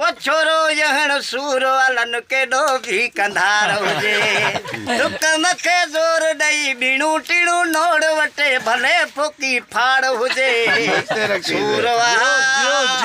او ڇورو يهڻ سور علن ڪيڏو به ڪنڌار هجي ڏک مٿي زور ڏئي ٻيڻون ٽيڻون نوڙ وٽي ڀلي ڦوڪي ڦاڙ هجي سور وهاء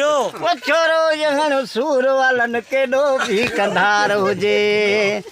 او ڇورو يهڻ سور علن ڪيڏو به ڪنڌار هجي.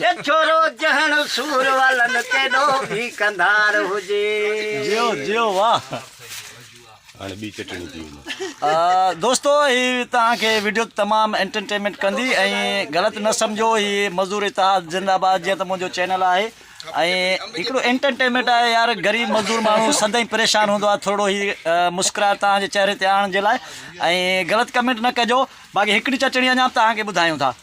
جي ڇورو جهڻ سور والن ڪيڏو ڀي ڪنڌار هجي. جيو جيو واه. هاڻي ٻي چٽڻي ٿي وڃي. دوستو هي توهان کي وڊيو تمام انٽرٽينمينٽ ڪندي ۽ غلط نه سمجهو هي مزدور اتحاد زنده باد جيئن ته منهنجو چينل آهي ۽ هڪڙو انٽرٽينمينٽ آهي يار غريب مزدور ماڻهو سدائين پريشان هوندو آهي ٿورڙو هي مسڪراهٽ توهان جي چهري تي آڻڻ جي لاء ۽ غلط ڪمينٽ نه ڪجو باقي هڪڙي چٽڻي اڃان به توهان کي ٻڌايون ٿا.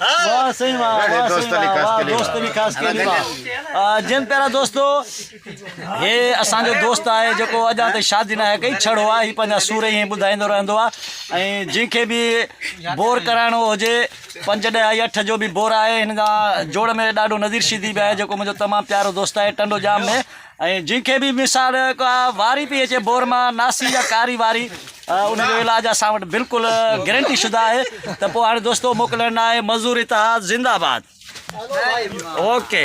واھ سائين واھ واھ سائين واھ واھ دوست علي خاص خيلي واھ جن پيارا دوستو هي اسان جو دوست آهي جيڪو اڄا تائين شادي نه آهي ڪئي ڇڙو آهي هي پنهنجا سور ائين ٻڌائيندو رهندو آهي ۽ جن کي به بور ڪرائڻو هجي پنج ڏهه آهي اٺ جو به بور آهي هن جا جوڙ ۾ ڏاڍو نذير شيدي به آهي جيڪو منهنجو تمام پيارو دوست آهي ٽنڊو ڄام ۾ ۽ جنهن کي به مثال ڪا واري پئي اچي بور مان ناسي يا ڪاري واري ان جو علاج اسان وٽ بلڪل گرنٽي شده آهي ته پوء هاڻي دوستو موڪلڻ ناهي مزدور اتحاد زنده آباد اوڪي.